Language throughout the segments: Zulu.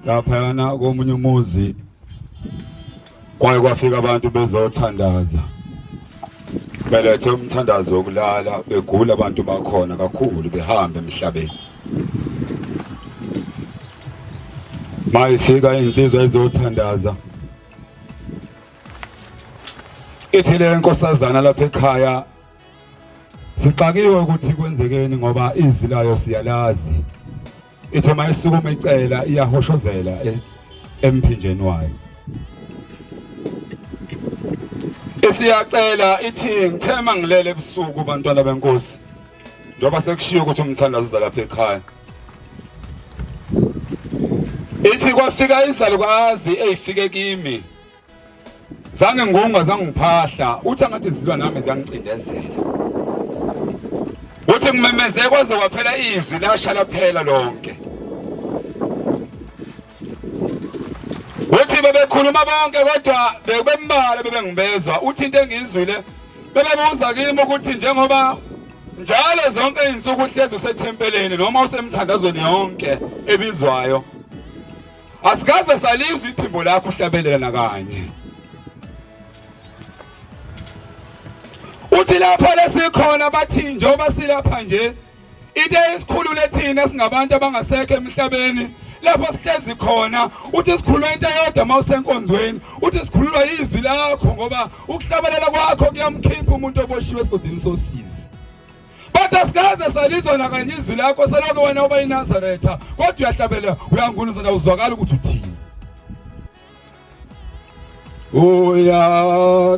laphayana komunye umuzi kwaye kwafika abantu bezothandaza belethe umthandazo wokulala begula abantu bakhona kakhulu behambe emhlabeni mayifika insizwa ezothandaza ithi le nkosazana lapha ekhaya sixakiwe ukuthi kwenzekeni ngoba izwi layo siyalazi ithe mayisukuma icela iyahoshozela eh, emphinjeni wayo isiyacela ithi ngithema ngilele ebusuku bantwana benkosi njengoba sekushiyo ukuthi umthandazo uza lapha ekhaya ithi kwafika izalukazi eyifike kimi zange ngonga zange ngiphahla uthi angathi zilwa nami zangicindezela uthi ngimemeze kwaze kwaphela izwi lasha laphela lonke uthi bebekhuluma bonke kodwa bekubembala bebengibezwa uthi into engiyizwile bebebuza kimi ukuthi njengoba njalo zonke izinsuku uhlezi usethempeleni noma usemthandazweni yonke ebizwayo Asikaze salizwa iphimbo lakho uhlabelela nakanye. Uthi lapha lesikhona bathi njengoba silapha nje into esikhulule thina singabantu abangasekho emhlabeni lapho sihlezi khona uthi sikhuluma into eyodwa uma usenkonzweni uthi sikhululwa yizwi lakho ngoba ukuhlabelela kwakho kuyamkhipha umuntu oboshiwe esigodini sosizi Bathi asikaze salizwa nakanye izwi lakho selokhu wena uba iNazaretha kodwa uyahlabela uyangunuza na uzwakala ukuthi uthini. Uyathanda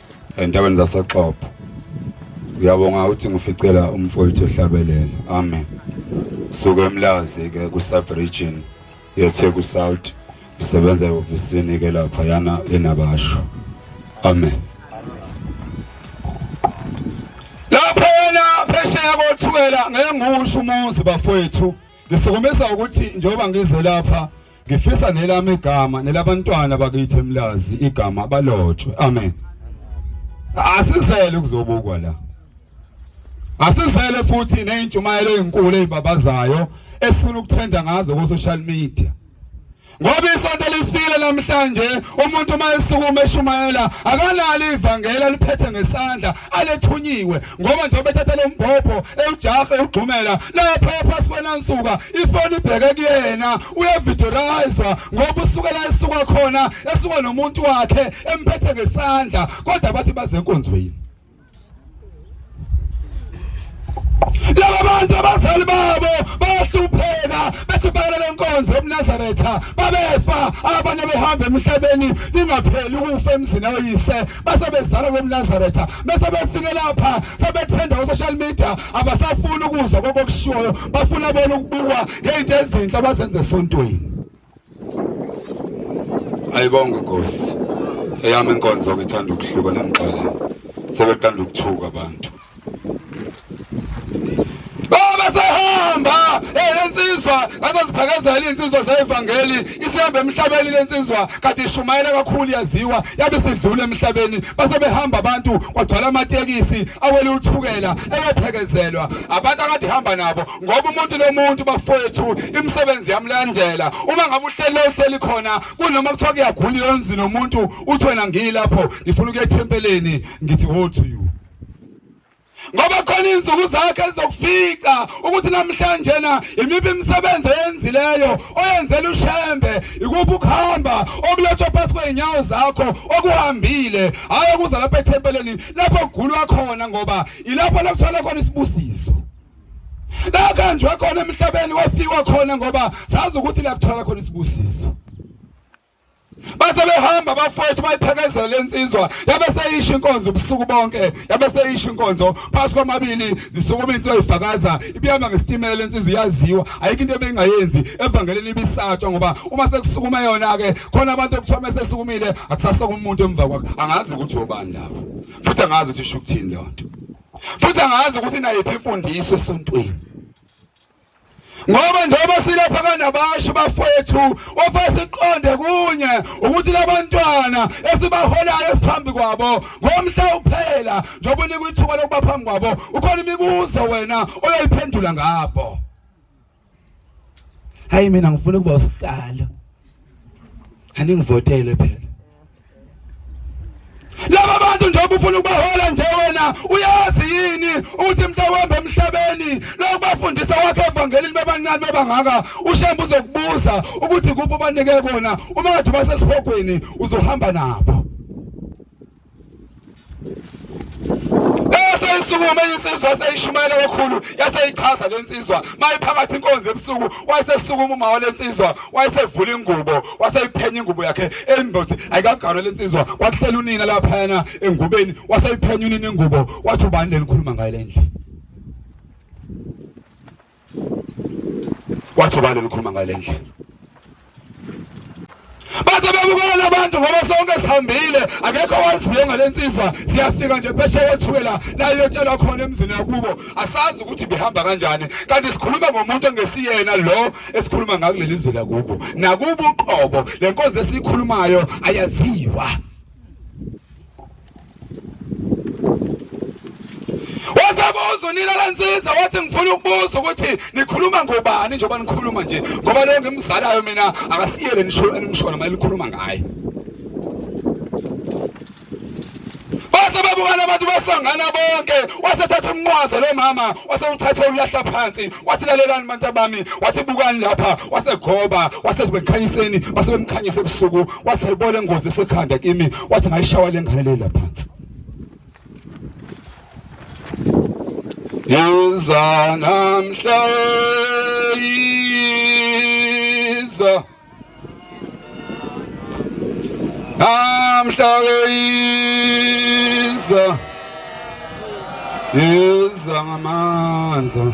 entabeni zasoxopo uyabonga ukuthi ngificela umfowethu ehlabelele amen suke emlazi ke ku sub region yetheku south isebenza ehhovisini ke lapha yana enabasho amen lapha yena phesheya kothukela ngeke ngiwusho umuzi bafowethu ngisikumisa ukuthi njengoba ngize lapha Ngifisa nelami igama nelabantwana bakithi emlazi igama balotshwe. Amen. Asizele ukuzobukwa la. Asizele futhi nezintshumayelo ezinkulu ezibabazayo esifuna ukuthenda ngazo ku social media. Ngoba isonto lifile namhlanje umuntu uma esukuma eshumayela akanalo ivangeli aliphethe ngesandla alethunyiwe ngoba nje bethatha lo mbhobho ewujahe ugxumela lapha phansi kwenansuka ifoni ibheke kuyena uyevidorayiza ngoba usukela esuka khona esuka nomuntu wakhe emphethe ngesandla kodwa bathi baze enkonzweni laba bantu abazali babo bahlupheka bethubhekela lenkonzo ebunazaretha babefa abanye behamba emhlabeni lingapheli ukufa emzini oyise base bezala lo mnazaretha bese befike lapha sebethenda usocial media abasafuni ukuzwa kokokushiwoyo bafuna bona ukubukwa ngeyinto ezinhle abazenze esontweni ayibonga nkosi eyami inkonzo ngithanda ukuhluka nengixolela sebeqanda ukuthuka abantu Baba sehamba elensizwa ngasaziphakazela insizwa zevangeli isihamba emhlabeni lensizwa kade ishumayela kakhulu yaziwa yabe sidlula emhlabeni base behamba abantu kwagcwala amatekisi awele uthukela eyephekezelwa abantu akade hamba nabo ngoba umuntu lomuntu bafowethu imisebenzi yamlandela uma ngabe uhlele uhleli khona kunoma kuthiwa kuyagula yonzi nomuntu uthi wena ngilapho ngifuna ukuya ethempeleni ngithi wothi ngoba khona insuku zakhe ezizokufica ukuthi namhlanje na imiphi imisebenzi oyenzileyo oyenzela ushembe ikuphi ukuhamba okulethwa phasi kwey'nyawo zakho okuhambile hhayi okuza lapha ethempeleni lapho kugulwa khona ngoba ilapho lokuthola khona isibusiso lakanjwe khona emhlabeni wafiwa khona ngoba sazi ukuthi lakuthola khona isibusiso base behamba bafowethu bayiphekezela lensizwa yabe seyisho inkonzo ubusuku bonke yabe seyisho inkonzo phasi kwamabili zisukuma insizwa ifakaza ibiyama ngesitimela lensizwa iyaziwa ayikho into ebingayenzi evangelini ibisatshwa ngoba uma sekusukuma yona ke khona abantu okuthiwa mesesukumile akusasaka umuntu emva kwakhe angazi ukuthi obani lapho futhi angazi ukuthi isho ukuthini leyo nto futhi angazi ukuthi nayiphi imfundiso esontweni ngoba njengoba silapha kanabasho bafethu ofasiqonde kunye ukuthi labantwana esibaholayo esiphambi kwabo ngomhla uphela njengoba unikwa ithuba lokuba phambi kwabo ukhona imibuzo wena oyoyiphendula ngabo hayi mina ngifuna ukuba usihlalo aningivotele phela laba bantu njengoba ufuna ukubahola nje wena uyazi yini ukuthi mntawembe emhlabeni lokubafundisa wakho evangelini bebancane bebangaka ushembe uzokubuza ukuthi kuphi obanike kona uma ngathi basesihogweni uzohamba nabo Yasukuma insizwa yaseyishumayela kakhulu yaseyichaza le nsizwa mayiphakathi inkonzo ebusuku wayesesukuma uma wale nsizwa wayesevula ingubo waseyiphenya ingubo yakhe embothi ayikagarwe le nsizwa kwakuhlela unina laphayana engubeni waseyiphenya unina ingubo wathi ubani lelikhuluma ngayo le ndlela wathi ubani olukhuluma ngale ndlela baze bebukela abantu ngoba sonke sihambile akekho waziyo ngale nsizwa siyafika nje phesheya othukela la iyotshelwa khona emzini yakubo asazi ukuthi bihamba kanjani kanti sikhuluma ngomuntu engesiyena lo esikhuluma ngakuleli zwe lakubo nakubo uqobo le nkonzo esiyikhulumayo ayaziwa wazabuza unilala nsiza wathi ngifuna ukubuza ukuthi nikhuluma ngobani njengoba nikhuluma nje ngoba leyo ngimzalayo mina akasiyele nisho enimshona uma likhuluma ngaye base babukana abantu basangana bonke wasethatha umnqwaze lo mama wasewuthatha ulahla phansi wasilalelani manta bami wasibukani lapha wasegoba wasezibekhaniseni basebemkhanyise ebusuku wasebona ingozi sekhanda kimi wathi ngayishawa le ngane leyo laphansi Yiza namhla yiza Namhla yiza Yiza ngamandla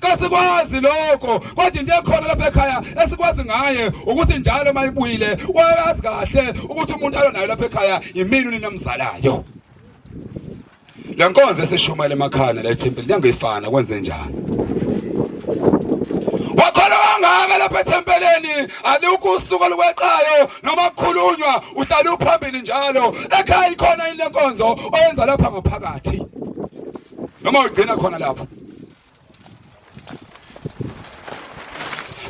kasikwazi lokho kodwa into ekhona lapha ekhaya esikwazi ngaye ukuthi njalo uma ibuyile wayazi kahle ukuthi umuntu alo nayo lapha ekhaya yimini unina mzalayo le nkonzo esishumayela emakhaya la ethempeli kuyangifana kwenze njani wakhona wangaka lapha ethempeleni alikho usuku olukweqayo noma kukhulunywa uhlale uphambili njalo ekhaya ikhona yini le nkonzo oyenza lapha ngaphakathi noma ugcina khona lapho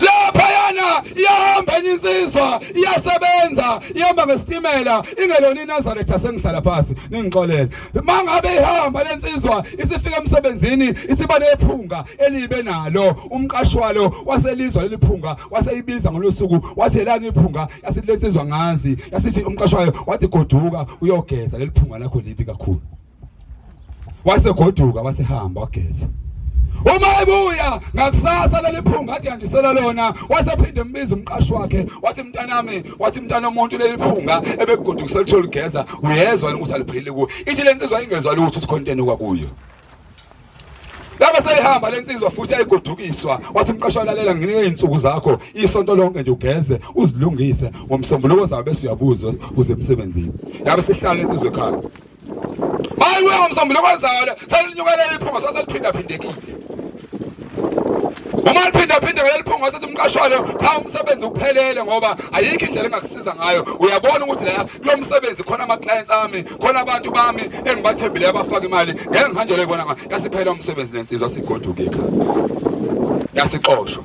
laphayana iyahamba enye insizwa iyasebenza ihamba ngesitimela ingelona inazaretha yasengihlala phasi ningixolele uma ngabe ihamba le nsizwa isifika emsebenzini isiba nephunga elibe nalo umqashi walo waselizwa leli phunga waseyibiza ngolosuku wathi yelani iphunga yasithi le nsizwa ngazi yasithi umqashi wayo wathi goduka uyogeza leli phunga lakho libi kakhulu wasegoduka wasehamba wageza uma ebuya ngakusasa leliphunga athi yandisela lona wasephinde embiza umqashi wakhe wathi mntanami wathi mntana omuntu leliphunga ebegodukisa lithole ugeza uyezwa ukuthi aliphilile kuyo ithi le nsizwa ingezwa lutho ukuthi khonteni kwakuyo Laba seyihamba lensizwa futhi ayigodukiswa wathi umqasho alalela nginike izinsuku zakho isonto lonke nje ugeze uzilungise ngomsombuluko zabe bese uyabuza uze emsebenzini. Yabe sihlala lensizwa ekhaya. hayi wewe msambulo kwenzayo le selinyukela iphunga saseliphinda phindekile uma liphinda phinde ngeliphunga sathi umqashwana cha umsebenzi uphelele ngoba ayikho indlela engakusiza ngayo uyabona ukuthi la lo msebenzi khona ama clients ami khona abantu bami engibathembile abafaka imali ngeke ngihanjele ibona nga yasiphela umsebenzi lensizwa sigoduke ekhaya yasixoshwa